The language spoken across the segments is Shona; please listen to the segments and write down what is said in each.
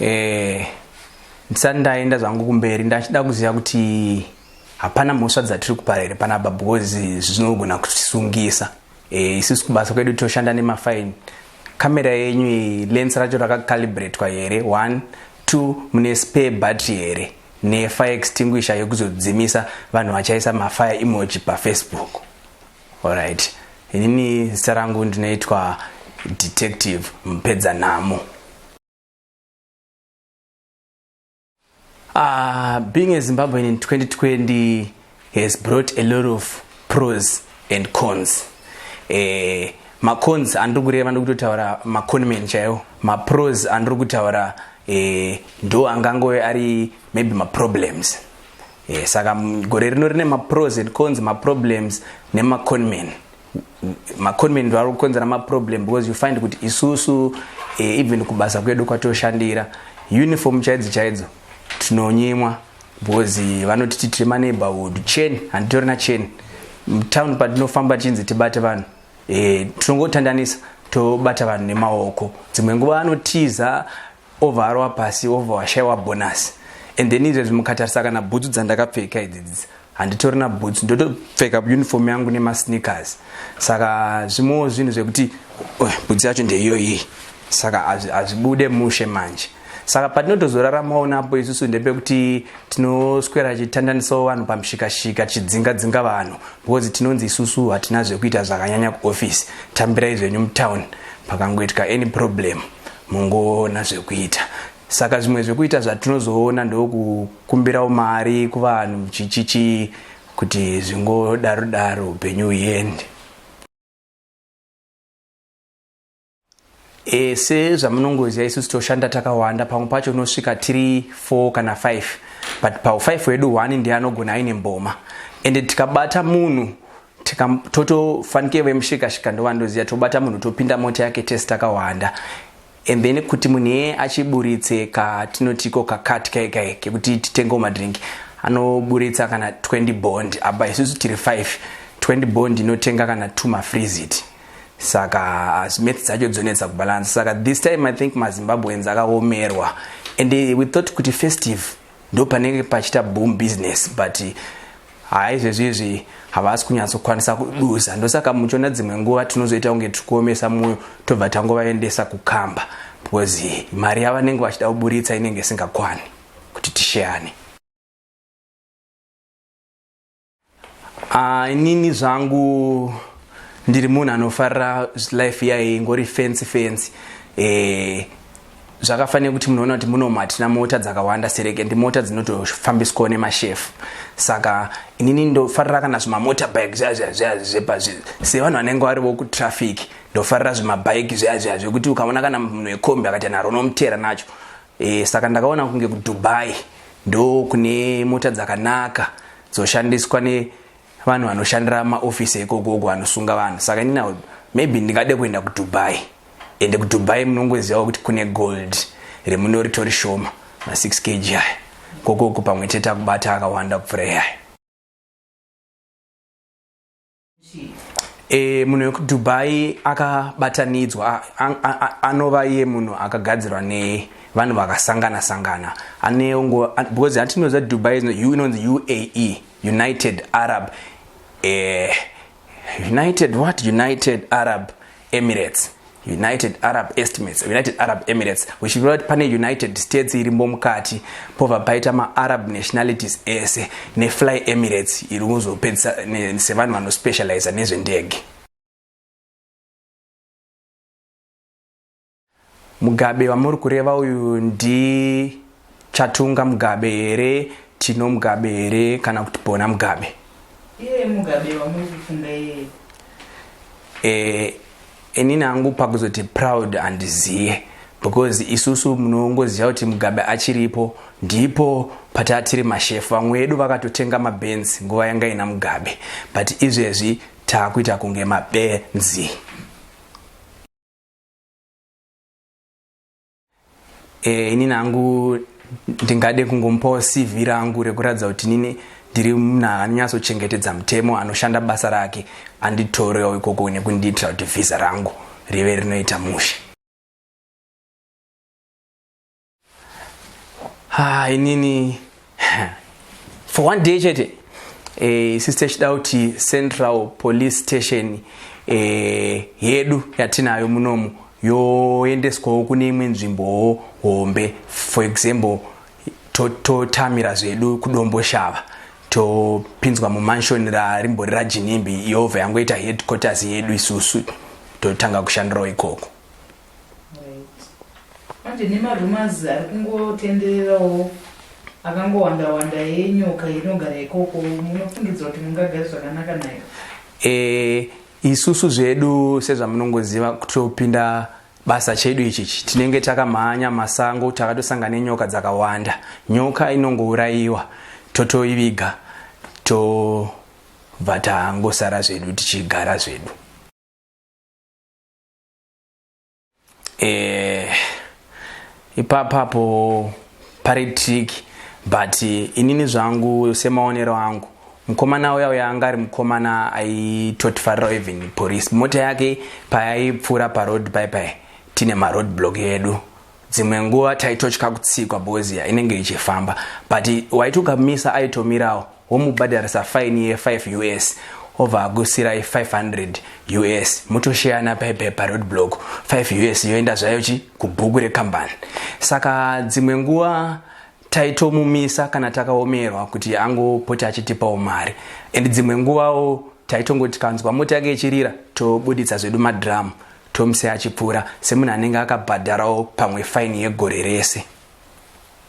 eh ndisati ndaenda zvangu kumberi ndachida kuziva kuti hapana mhosva dzatiri kupara here panapa because zvinogona kutisungisa eh isusu kubasa kwedu toshanda nemafaini kamera yenyu lens racho rakacalibratwa here one two mune spare battery here ne fire extinguisher yekuzodzimisa vanhu vachaisa ma fire emoji pa Facebook alright inini zita rangu ndinoitwa detective mpedza nhamo uh, being a zimbabwean in 2020 has brought a lot of pros and cons eh, macons andiri kureva ndiri kutotaura maconman chaiwo mapros andiri kutaura eh, ndo angangove ari maybe maproblems eh, saka gore rino rine mapros and cons maproblems nemaconman maconman ndo ari kukonzera maproblem because you find kuti isusu eh, even kubasa kwedu kwatoshandira uniform chaidzo chaidzo tinonyimwa Bhozi vanoti titire maneighborhood chain handitorina chain town patinofamba tichinzi tibate vanhu e, tinongotandanisa tobata vanhu nemaoko dzimwe nguva anotiza ovarowa pasi ova washaiwa bonasi and then izvezvi mukatarisa kana bhutsu dzandakapfeka idzidzi handitorina bhutsu ndotopfeka uniform yangu nemasneakers saka zvimwewo zvinhu zvekuti bhutsu yacho ndeiyoyi saka hazvibude mushe manje saka patinotozoraramawo napo isusu ndepekuti tinoswera chitandanisawo vanhu pamushikashika tichidzinga dzinga vanhu because tinonzi isusu hatina zvekuita zvakanyanya kuoffice tambirai zvenyu mutown pakangoitika any problem mungoona zvekuita saka zvimwe zvekuita zvatinozoona ndokukumbirawo mari kuvanhu chichichi kuti zvingodaro daro upenyu uende E, sezvamunongoziva isusu toshanda takawanda pamwe pacho unosvika tiri 4 kana 5 but pau 5 wedu one ndiye anogona aine mboma ende tikabata munhu totofanike vemushikashika ndovandoziva tobata munhu topinda mota yake tese takawanda and then kuti munhu iye achiburitse katinotiko kakati kaikai kekuti titengewo madrink anoburitsa kana 20 bond apa isusu tiri 5 20 bond inotenga kana 2 mafrizit saka as maths dzacho dzonetsa kubalance saka this time i think mazimbabweans akaomerwa and eh, we thought kuti festive ndo panenge pachita boom business but eh, haa izvezvi izvi havasi kunyatsokwanisa kuduza ndosaka muchiona dzimwe nguva tinozoita kunge tiri kuomesa mwoyo tobva tangovaendesa kukamba because eh, mari yavanenge vachida kuburitsa inenge isingakwani kuti tisheyane Ah, inini zvangu ndiri munhu anofarira life yaye ingori fensi fensi eh, zvakafanira kuti munoona kuti munomu hatina mota dzakawanda sereke ndi mota dzinotofambiswawo nemashefu saka inini ndofarira kana zvimamota bike zvazvazvazvepa sevanhu vanenge varivo kutraffic ndofarira zvimabike zvazvazve kuti ukaona kana munhu wekombi akaita naro unomutera nacho e, saka ndakaona kunge kudubai ndo kune mota dzakanaka dzoshandiswa nevanhu vanoshandira maofisi ekogogo anosunga vanhu saka inina maybe ndingade kuenda kudubai ende kudubai munongozivawo kuti kune gold remunoritori shoma ma6 kg aya kokoko pamwe chete akubata akawanda kupfura iyaya E, munhu wekudubai akabatanidzwa anova iye munhu akagadzirwa nevanhu vakasangana sangana aneungo because hatinoziva dubai inonzi uae united arab e, united what united arab Emirates united arab estimates united arab emirates uchireva kuti pane united states irimbo mukati pobva paita maarab nationalities ese nefly emirates iri kuzopedzisa sevanhu vanospecializa nezvendege Mugabe wamuri kureva uyu ndi Chatunga Mugabe here, Tino Mugabe here kana kuti Bona Mugabe? Iye Mugabe wamuri kufunga iye. Eh, inini hangu pakuzoti proud handiziye because isusu munongoziva kuti Mugabe achiripo ndipo patatiri mashefu vamwe vedu vakatotenga mabenzi nguva yanga ina Mugabe but izvezvi takuita kunge mabenzi. eh, ini nangu ndingade kungomupawo cv rangu rekuratidza kuti nini ndiri munhu anonyatsochengetedza mutemo anoshanda basa rake anditorewo ikoko nekundiitira kuti vhisa rangu rive rinoita mushe ha inini for one day chete eh, sisi tichida kuti central police station eh, yedu yatinayo munomu yoendeswawo kune imwe nzvimbowo hombe for example totamira to zvedu kudombo shava topinzwa mumansion rarimbori rajinimbi yova yangoita headquarters yedu isusu totanga kushandirawo ikoko Manje nemarumors ari kungotendererawo akangowanda wanda yenyoka inogara ikoko munofungidzwa kuti mungagari zvakanaka nayo e, isusu zvedu sezvamunongoziva kutopinda basa chedu ichichi tinenge takamhanya masango takatosanga nenyoka dzakawanda nyoka inongourayiwa totoiviga tobva tangosara zvedu tichigara zvedu eh, ipapapo pari trick but inini zvangu semaonero angu mukomana uya uya anga ari mukomana aitotifarira even police mota yake payaipfuura paroad pai pai tine maroad block yedu dzimwe nguva taitotya kutsikwa bozia inenge ichifamba but waiti ukamisa aitomirawo womubhadharisa faini ye5 us obva agusirai 500 us motosheyana paipe paroad block 5 us yoenda zvayo chi kubhuku rekambani saka dzimwe nguva taitomumisa kana takaomerwa kuti angopote achitipawo mari and dzimwe nguvawo taitongotikanzwa mota yake ichirira tobuditsa zvedu madhiramu Tomse achipfuura semunhu anenge akabhadharawo pamwe faini yegore rese.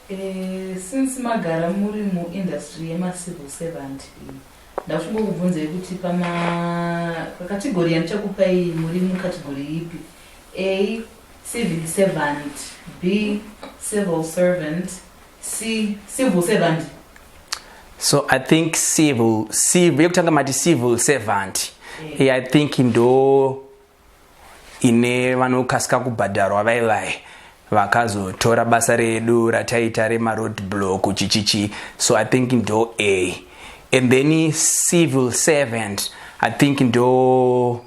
Eh, since magara muri muindustry yemacivil servant iyi ndafunga kubvunzai kuti pamakategori yandichakupai muri mukategori ipi a civil servant b civil servant c civil servant so i think civil civil yekutanga mati civil servant yeah. i think ndo ine vanokasika kubhadharwa vaye vaye vakazotora basa redu rataita remaroad block chichichi so i think ndo a and then civil servant i think ndo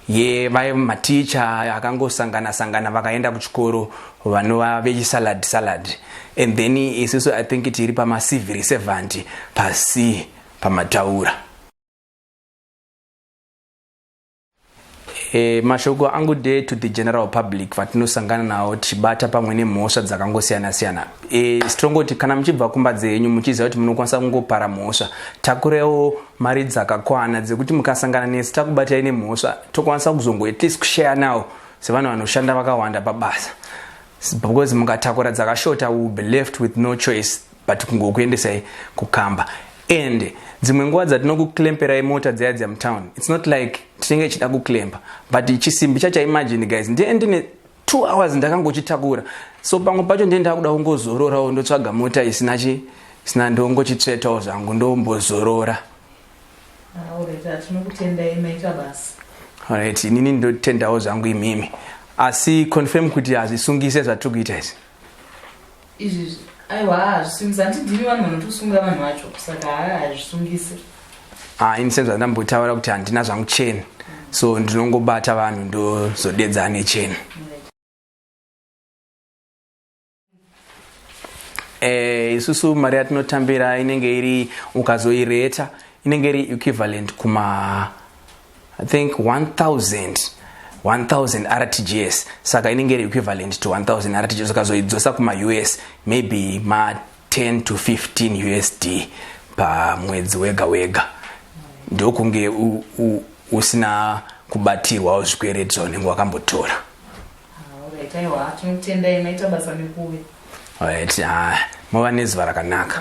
ye vaye maticha akangosangana sangana vakaenda kuchikoro vanova vechisalad salad and then isiso i think tiri pamacivil servant pasi pamataura E, mashoko angu de to the general public vatinosangana nawo tichibata pamwe nemhosva dzakangosiyana siyana e, tongoti kana muchibva kumba dzenyu muchiziva kuti munokwanisa kungopara mhosva takurewo mari dzakakwana dzekuti mukasangana nesi takubatai nemhosva tokwanisa kuzongo at least kushaya nawo sevanhu vanoshanda vakawanda pabasa because mukatakura dzakashota will be left with no choice but kungokuendesai kukamba and dzimwe nguva dzatinokuklemperai mota dziya dziya mutown its not like tinenge ichida kuklempa but chisimbi chacho imagine guys ndiye ndine two hours ndakangochitakura so pamwe pacho ndiye ndakuda kungozororawo ndotsvaga mota isina chi sina ndongochitsvetawo zvangu ndombozorora alright inini ndotendawo zvangu imimi asi confirm kuti hazvisungise zvatiri kuita izvi izvizvi aiwa hazvisungisi handidhimi vanhu vanotosunga vanhu vacho saka haa hazvisungisi ah, ini senza ndambotaura kuti handina zvangu cheni so ndinongobata vanhu ndozodedza ane cheni eh, isusu mari yatinotambira inenge iri ukazoireta inenge iri equivalent kuma i think 1000 1000 rtgs saka inenge iri equivalent to 1000 rtgs ukazoidzosa kumaus maybe ma 10 to 15 usd pamwedzi wega wega ndokunge usina kubatirwawo zvikwereti zvaunenge wakambotora right ah, mova nezuva rakanaka